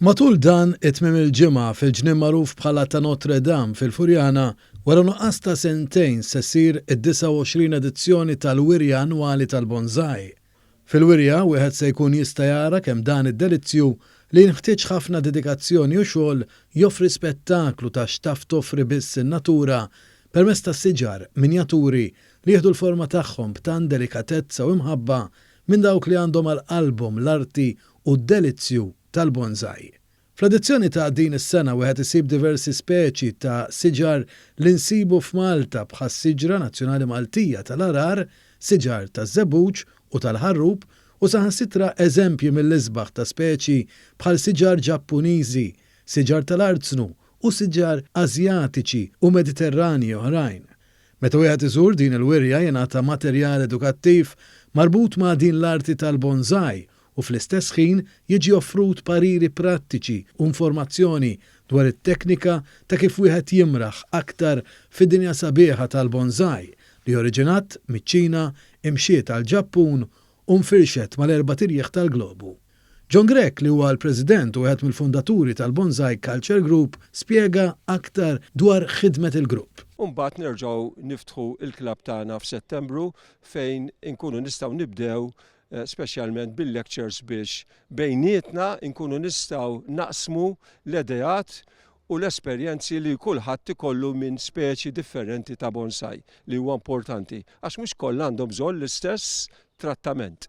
Matul dan it-tmiem il-ġimgħa fil-ġnien magħruf bħala ta' Notre Dame fil-Furjana, wara nuqqas ta' sentejn se ssir id-29 edizzjoni tal-Wirja Annwali tal-Bonsai. Fil-wirja wieħed se jkun jista' jara kemm dan id-delizzju li jinħtieġ ħafna dedikazzjoni u xogħol joffri spettaklu ta' x'taf toffri biss in-natura permezz ta' siġar minjaturi li jieħdu l-forma tagħhom b'tant delikatezza u imħabba minn dawk li għandhom għal qalbhom l-arti u d-delizzju tal-bonsai. Fl-edizzjoni ta' din is-sena wieħed isib diversi speċi ta' siġar li nsibu f'Malta bħas-siġra nazzjonali Maltija tal-għarar, siġar taż-żebbuġ u tal-ħarrub u saħansitra eżempji mill-isbaħ ta' speċi bħal siġar Ġappuniżi, siġar tal-arznu u siġar Asjatiċi u Mediterranji oħrajn. Meta wieħed iżur din il-wirja jingħata materjal edukattiv marbut ma' din l-arti tal-bonsai u fl-istess ħin jiġi offrut pariri prattiċi u informazzjoni dwar it-teknika ta' kif wieħed jimraħ aktar fid-dinja sabiħa tal-bonsai li oriġinat miċ-Ċina, imxiet għall-Ġappun u nfirxet mal-erbat irjieħ tal-globu. John Grech, li huwa l-President u wieħed mill-fundaturi tal-Bonsai Culture Group, spjega aktar dwar ħidmet il-grupp. U mbagħad nerġgħu niftħu l-klabb tagħna f'Settembru fejn inkunu nistgħu nibdew speċjalment bil-lectures biex bejnietna nkunu nistgħu naqsmu l-ideat u l-esperjenzi li kulħadd ikollu minn speċi differenti ta' bonsai li huwa importanti għax mhux kollha għandhom bżonn l-istess trattament.